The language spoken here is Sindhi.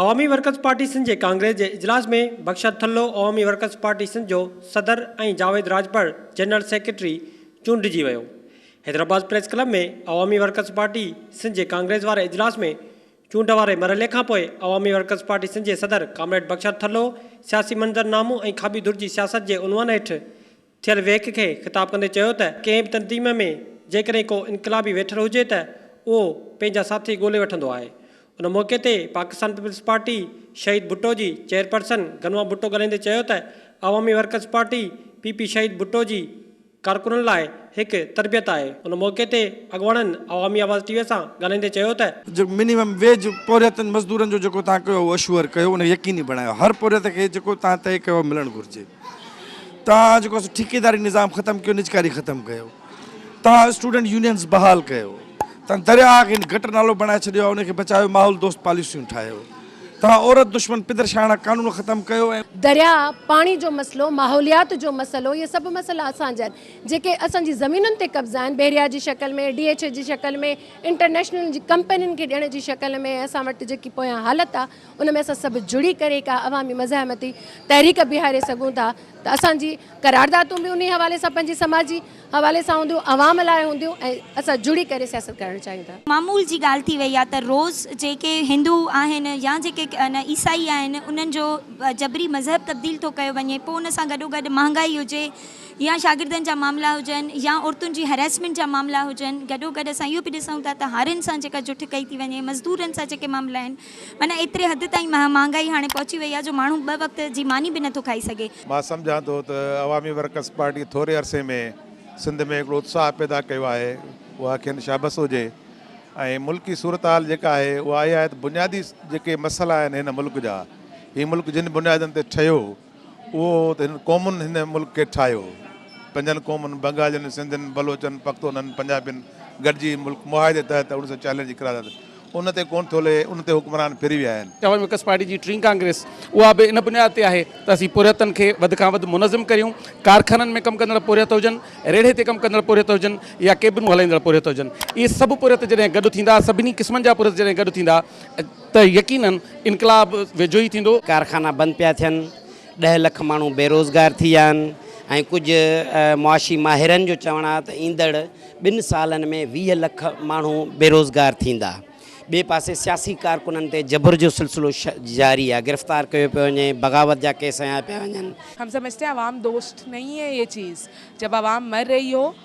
عوامي ورڪرز پارٽي سنڌ جي ڪانگريس جي اجلاس ۾ بخشت ٿلهو عوامي ورڪرز پارٽي سنڌ جو صدر ۽ جاويد راڄپر جنرل سيڪريٽري چونڊجي ويو. حيدرآباد پريس ڪلب ۾ عوامي ورڪرز پارٽي سنڌ جي ڪانگريس واري اجلاس ۾ چونڊ واري مرحلي کانپوء عوامي ورڪرز پارٽي سنڌ جي صدر ڪامريڊ بخشت ٿلهو سياسي منظرنامو ۽ کاٻي ڌر جي سياست جي عنوان هيٺ ٿيل ويهڪ کي خطاب ڪندي چيو ته ڪنهن به تنظيم ۾ جيڪڏهن ڪو انقلابي ويٺل هجي ته اهو پنهنجا ساٿي ڳولي وٺندو آهي. ان موقعي تي پاڪستان پيپلز پارٽي شهيد ڀٽو جي چيئرپرسن گنوا ڀٽو ڳالهائيندي چيو ته عوامي workers party, P P, Shaheed Bhutto جي ڪارڪنن لاء هڪ تربيت آهي. ان موقعي تي اڳواڻن عوامي آواز ٽي وي سان ڳالهائيندي چيو ته. جو منيمم ويج پورهيتن مزدورن جو جيڪو توهان ڪيو اهو اشوور ڪيو ان کي يقيني بڻايو هر پورهيت کي جيڪو توهان طئي ڪيو ملڻ گهرجي. توهان جيڪو سو ٺيڪيداري نظام ختم ڪيو نجڪاري ختم ڪيو توهان اسٽوڊنٽ يونينز بحال ڪيو توهان درياء کي گٽر نالو بڻائي ڇڏيو ان کي بچايو ماحول دوست پاليسيون ٺاهيو توهان عورت دشمن پدر شاهاڻا قانون ختم ڪيو ۽ درياء پاڻي جو مسئلو ماحوليات جو مسئلو اهي سڀ مسئلا اسان جا آهن جيڪي اسان جي زمينن تي قبضا آهن بحريا جي شڪل ۾ ڊي ايڇ اي جي شڪل ۾ انٽرنيشنل جي ڪمپنين کي ڏيڻ جي شڪل ۾ اسان وٽ جيڪي پويان حالت آهي ان ۾ اسان سڀ جڙي ڪري ڪا عوامي مزاحمتي تحريڪ بيهاري سگهون ٿا ته اسان جي قراردادون به انهي حوالي سان پنهنجي سماجي حوالي سان هونديون عوام لاء هونديون ۽ اسان جڙي ڪري سياست ڪرڻ چاهيون ٿا. معمول جي ڳالهه ٿي وئي آهي ته روز جيڪي هندو آهن يا جيڪي عيسائي آهن انهن جو جبري مذهب تبديل ٿو ڪيو وڃي پوء ان سان گڏو گڏ مهانگائي هجي يا شاگردن جا معاملا هجن يا عورتن جي هريسمينٽ جا معاملا هجن گڏو گڏ اسان اهو به ڏسون ٿا ته هارين سان جيڪا جٺڪئي ٿي وڃي مزدورن سان جيڪي معاملا آهن معنيٰ ايتري حد تائين مهانگائي هاڻي پهچي وئي آهي جو ماڻهو ٻه وقت جي ماني به نٿو کائي سگهي. مان سمجهان ٿو ته عوامي ورڪرز پارٽيء ٿوري عرصي ۾ سنڌ ۾ هڪڙو اتساهه پيدا ڪيو آهي، اها کين شابس هجي ۽ ملڪي صورتحال جيڪا آهي اها اها آهي ته بنيادي جيڪي مسئلا آهن هن ملڪ جا، هي ملڪ جن بنيادن تي ٺهيو، اهو ته هن قومن هن ملڪ کي ٺاهيو. پنجن قومن بنگالين، سنڌين، بلوچن، پختونن، پنجابين گڏجي هي ملڪ معاهدي تحت اڻ سؤ چاليهه جي قرارداد ان تي ڪونه ٿو لهي، ان تي حڪمران ڦري ويا آهن. جهاز وڪس پارٽي جي ٽين ڪانگريس اها به ان بنياد تي آهي ته اسين پورهيتن کي وڌ کان وڌ منظم ڪريون، ڪارخانن ۾ ڪم ڪندڙ پورهيت هجن، ريڙهي تي ڪم ڪندڙ پورهيت هجن يا ڪيبنون هلائيندڙ پورهيت هجن. اهي سڀ پورهيت جڏهن گڏ ٿيندا، سڀني قسمن جا پورهيت جڏهن گڏ ٿيندا، ته يقينن انقلاب ويجهو ئي ٿيندو. ڪارخانا بند پيا ٿين، ڏهه لک ماڻهو بيروزگار ٿي ويا آهن ۽ ڪجهه معاشي ماهرن جو چوڻ آهي ته ايندڙ ٻن سالن ۾ ويهه لک ماڻهو بيروزگار ٿيندا. ٻئي پاسي سياسي ڪارڪنن تي جبر جو سلسلو جاري آهي، گرفتار ڪيو پيو وڃي، بغاوت جا ڪيس هنيا پيا وڃن. هم سمجهتي عوام دوست نهين هي يه چيز، جب عوام مر رهي هو